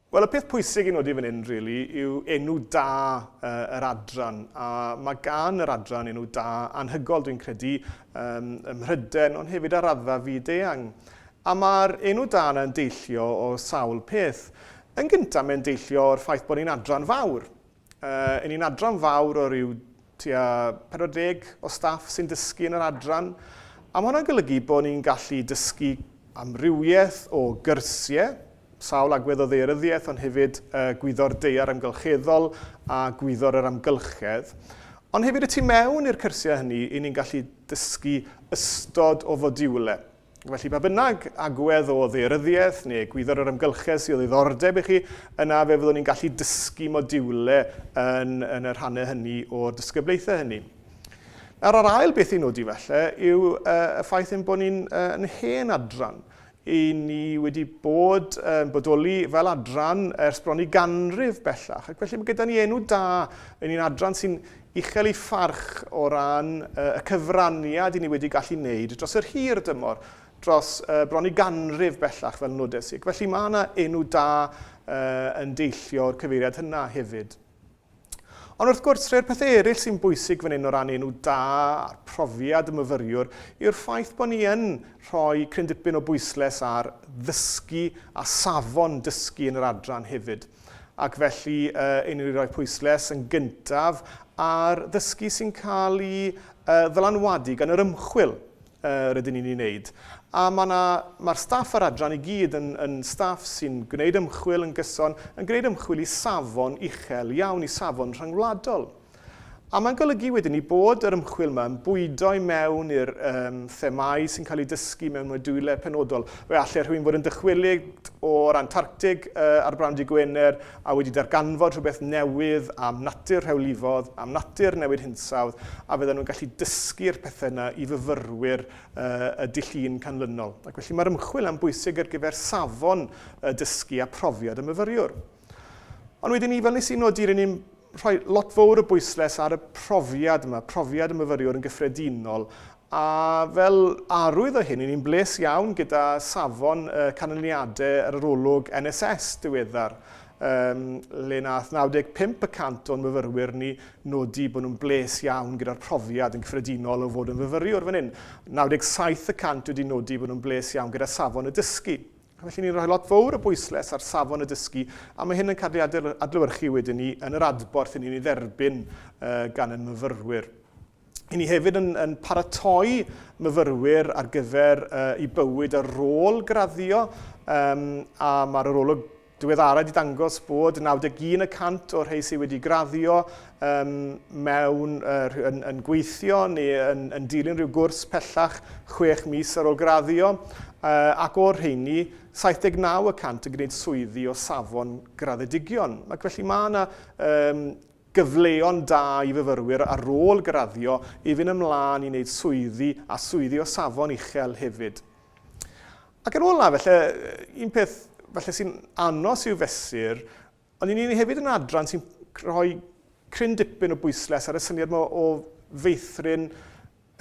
Wel, y peth pwysig i nodi fan hyn, really, yw enw da uh, yr adran. A mae gan yr adran enw da anhygol, dwi'n credu, um, ym Mhryden, ond hefyd ar raddfa fyd eang. A mae'r enw da yna yn deillio o sawl peth. Yn gyntaf, mae'n deillio o'r ffaith bod ni'n adran fawr. Yy ni'n adran fawr o ryw tua 40 o staff sy'n dysgu yn yr adran a ma' hwnna'n golygu bo' ni'n gallu dysgu amrywieth o gyrsie, sawl agwedd o ddaearyddiaeth ond hefyd yy gwyddor daear amgylcheddol a gwyddor yr amgylchedd. Ond hefyd y tu mewn i'r cyrsie hynny 'yn ni'n gallu dysgu ystod o fodiwle. Felly, pa bynnag agwedd o ddaearyddiaeth neu egwyddor yr amgylchedd sydd o ddiddordeb i chi, yna fe fyddwn ni'n gallu dysgu modiwle yn, yn y rhannau hynny o'r disgyblaethau hynny. Nawr, yr ail beth i nodi felly yw uh, y ffaith ein bod ni'n uh, yn hen adran. I ni wedi bod yn uh, bodoli fel adran ers bron i ganrif bellach. Ac felly mae gyda ni enw da yn un adran sy'n uchel ei pharch o ran y cyfraniad i ni wedi gallu wneud dros yr hir dymor, dros bron i ganrif bellach fel Nodau Sic. Felly mae yna enw da yn deillio o'r cyfeiriad hynna hefyd. Ond wrth gwrs, rhai'r pethau eraill sy'n bwysig fan hyn o ran enw da a'r profiad y myfyriwr yw'r ffaith bod ni yn rhoi cryn dipyn o bwysles ar ddysgu a safon dysgu yn yr adran hefyd. Ac felly, yy, i ni roi pwysles yn gyntaf ar ddysgu sy'n cael ei uh, ddylanwadu gan yr ymchwil uh, rydyn ni'n ei wneud. A mae'r ma, ma staff yr adran i gyd yn, yn staff sy'n gwneud ymchwil yn gyson, yn gwneud ymchwil i safon uchel iawn, i safon rhyngwladol. A mae'n golygu wedyn ni bod yr ymchwil yma yn bwydo i mewn i'r um, themau sy'n cael eu dysgu mewn modiwle penodol. Fe allai rhywun fod yn dychwelyd o'r Antarctic uh, ar brawn di Gwener a wedi darganfod rhywbeth newydd am natur rhewlifodd, am natur newid hinsawdd, a fydden nhw'n gallu dysgu'r pethau yna i fyfyrwyr uh, y dull un canlynol. Ac felly mae'r ymchwil yn bwysig ar gyfer safon uh, dysgu a profiad y myfyriwr. Ond wedyn ni, fel nes i nodi, rydyn ni'n rhoi lot fowr o bwysles ar y profiad yma, profiad y myfyriwr yn gyffredinol, a fel arwydd o hyn, i ni'n bles iawn gyda safon y canlyniadau yr arolwg NSS diweddar, um, le nath 95 y cant o'n myfyrwyr ni nodi bod nhw'n bles iawn gyda'r profiad yn gyffredinol o fod yn fyfyriwr fan hyn. 97 y cant wedi nodi bod nhw'n bles iawn gyda safon y dysgu. Felly ni'n rhoi lot fowr o bwysles ar safon y dysgu a mae hyn yn cael ei adlewyrchu wedyn ni yn yr adborth i ni'n ei dderbyn gan ein myfyrwyr. I ni hefyd yn, yn paratoi myfyrwyr ar gyfer uh, i bywyd ar ôl graddio um, a mae'r arolwg diweddara wedi dangos bod 91 y cant o'r rhai sydd wedi graddio yn mewn, yn, yn gweithio neu yn, yn dilyn rhyw gwrs pellach chwech mis ar ôl graddio, ac o'r rheini, 79 y cant yn gwneud swyddi o safon graddedigion. Ac felly mae yna um, gyfleon da i fyfyrwyr ar ôl graddio i fynd ymlaen i wneud swyddi a swyddi o safon uchel hefyd. Ac yn ola, felly, un peth felly sy'n anos i'w fesur Ond i ni hefyd yn adran sy'n rhoi cryn dipyn o bwysles ar y syniad yma o feithrin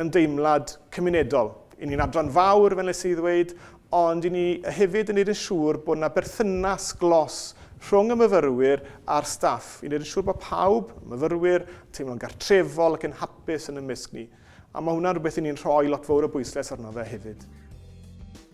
ymdeimlad cymunedol. I ni'n adran fawr, fel nes i ddweud, ond i ni hefyd yn neud yn siŵr bod yna berthynas glos rhwng y myfyrwyr a'r staff, i neud yn siŵr bod pawb, y myfyrwyr, yn teimlo'n gartrefol ac yn hapus yn ymysg ni. A mae hwnna'n rhywbeth i ni'n rhoi lot fawr o bwysles arno fe hefyd.